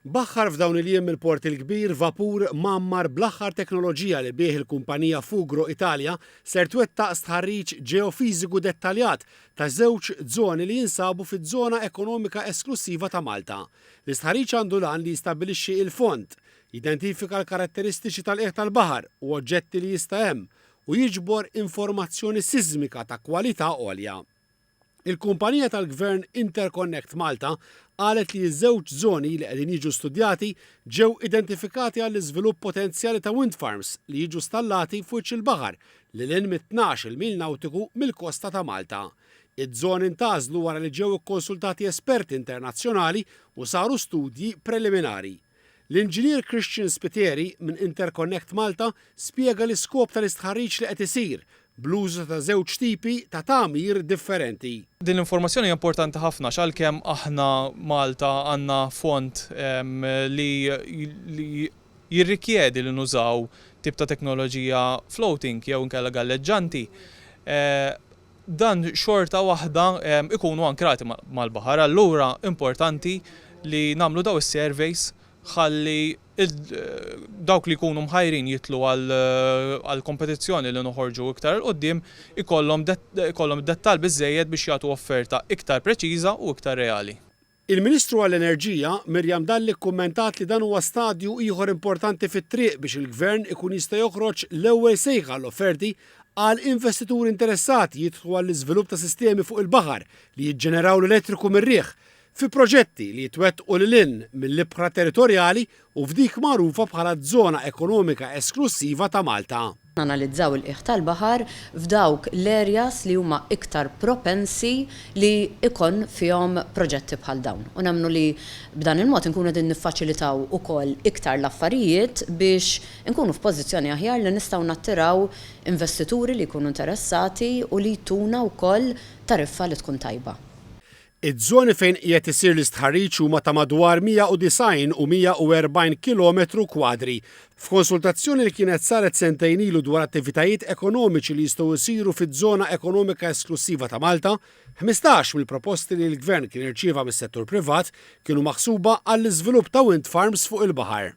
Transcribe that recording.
Baħħar f'dawn il-jiem mill-Port il-Kbir vapur mgħammar bl-aħħar teknoloġija li bih il-kumpanija Fugro Italia ser twettaq stħarriġ ġeofiżiku dettaljat ta' żewġ żoni li jinsabu fiż-Żona Ekonomika Esklussiva ta' Malta. L-istħarriġ għandu l-għan li jistabbilixxi il-fond, jidentifika l-karatteristiċi tal-qiegħ tal-baħar u oġġetti li jista' hemm u jiġbor informazzjoni siżmika ta' kwalità għolja. Il-kumpanija tal-Gvern Interconnect Malta qalet li ż-żewġ żoni li qegħdin jiġu studjati ġew identifikati għall-iżvilupp potenzjali ta' wind farms li jiġu stallati f'wiċċ il-baħar lil hinn mit-tnax-il mil nawtiku mill-kosta ta' Malta. Iż-żoni ntgħażlu wara li ġew ikkonsultati esperti internazzjonali u saru studji preliminari. L-Inġinier Christian Spiteri minn Interconnect Malta spjega l-iskop tal-istħarriġ li qed isir bl-użu ta' żewġ tipi ta' tagħmir differenti. Din l-informazzjoni hija importanti ħafna għax għalkemm aħna Malta għandna fond li jirrikjedi li nużaw tip ta' teknoloġija floating jew inkella galleġġanti, dan xorta waħda jkunu ankrati mal-baħar. Allura importanti li nagħmlu dawn is-surveys ħalli dawk li jkunu mħajrin jidħlu għall-kompetizzjoni li noħorġu iktar 'il quddiem ikollhom id-dettall biżżejjed biex jagħtu offerta iktar preċiża u iktar reali. Il-Ministru għall-Enerġija, Miriam Dalli kkummentat li dan huwa stadju ieħor importanti fit-triq biex il-Gvern ikun jista' joħroġ l-ewwel sejħa għal offerti għal investituri interessati jidħlu għall-iżvilupp ta' sistemi fuq il-baħar li jiġġeneraw l-elettriku mir-riħ fi proġetti li jitwettqu lil hinn mill-ibħra territorjali u f'dik magħrufa bħala z-Żona Ekonomika Esklussiva ta' Malta. Nanalizzaw il-qiegħ tal-baħar f'dawk l-areas li huma iktar propensi li jkun fihom proġetti bħal dawn u nemmnu li b'dan il-mod inkunu qegħdin niffaċilitaw ukoll iktar l-affarijiet biex inkunu f'pożizzjoni aħjar li nistgħu nattiraw investituri li jkunu interessati u li jtuna wkoll tariffa li tkun tajba. Iż-żoni fejn qiegħed isir l-istħarriġ huma ta' madwar 190 u 140 kilometru kwadri. F'konsultazzjoni li kienet saret sentejn ilu dwar attivitajiet ekonomiċi li jistgħu jsiru fiż-Żona Ekonomika Esklussiva ta' Malta, ħmistax mill-proposti li l-Gvern kien irċieva mis-settur privat kienu maħsuba għall-iżvilupp ta' wind farms fuq il-baħar.